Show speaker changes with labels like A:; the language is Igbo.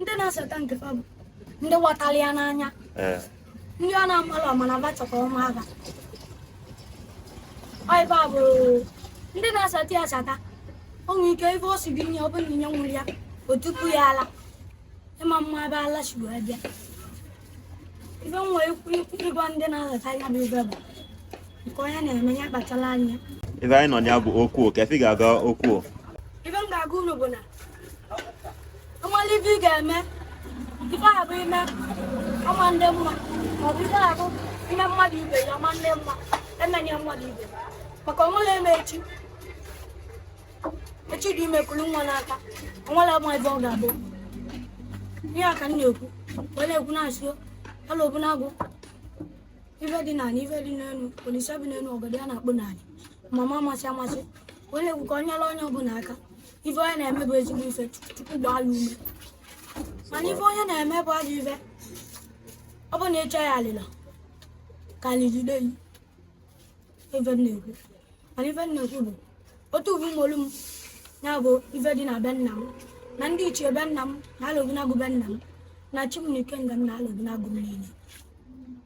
A: ndị na-asata nke fa bụ ndị ghọtara ya n'anya eh. ndị ọ na-amalụ amana ba chọkwa ọma aba ọ ife a bụ ndị na-asata ya asata o nwere ike ife ọ sị gị nye ọ bụrụ na inye nwere ya o tupu ya ala ịma mma ebe ala si wee bịa ife m nwere ikwu ikwu ịgwa ndị na-asata ya bụ ife bụ nke onye na-eme ya kpachara anya ife anyị nọ ya bụ
B: okwu ka efi ga-aga okwu ife m ga-agwa
A: unu bụ na ọ malị ife ị ga-eme ife a bụ ime ọma ndị ma ọ bụ ife a bụ ime mmadụ ibe ya ọma ndị mma emenye mmadụ ibe maka o nwere eme echi echi dị ime kulu nwa n'aka o nwere ma ife ọ ga-abụ ihe a ka m na-ekwu wee na-ekwu na-asị alọbinagụ ife dị n'ala ife dị n'elu olise bi n'elu ọgọdọ ya na-akpụ n'ala amama amasị amasị wee na-ekwu ka onye ọla onye ọbụla aka ife onye na-eme bụ ezigbo ife chukwu gbaa ya ume mana ife onye na-eme bụ ajọ ife ọ bụ na ịchọ ya alịla ka alịjide yi ife m na-ekwu mana ife m na-ekwu bụ otu uwe ụmụolu m ya bụ ife dị na be nna m na ndị ichie be nna m na alọbinagụ be nna m na chi m na ikenga m na alọbinagụ m niile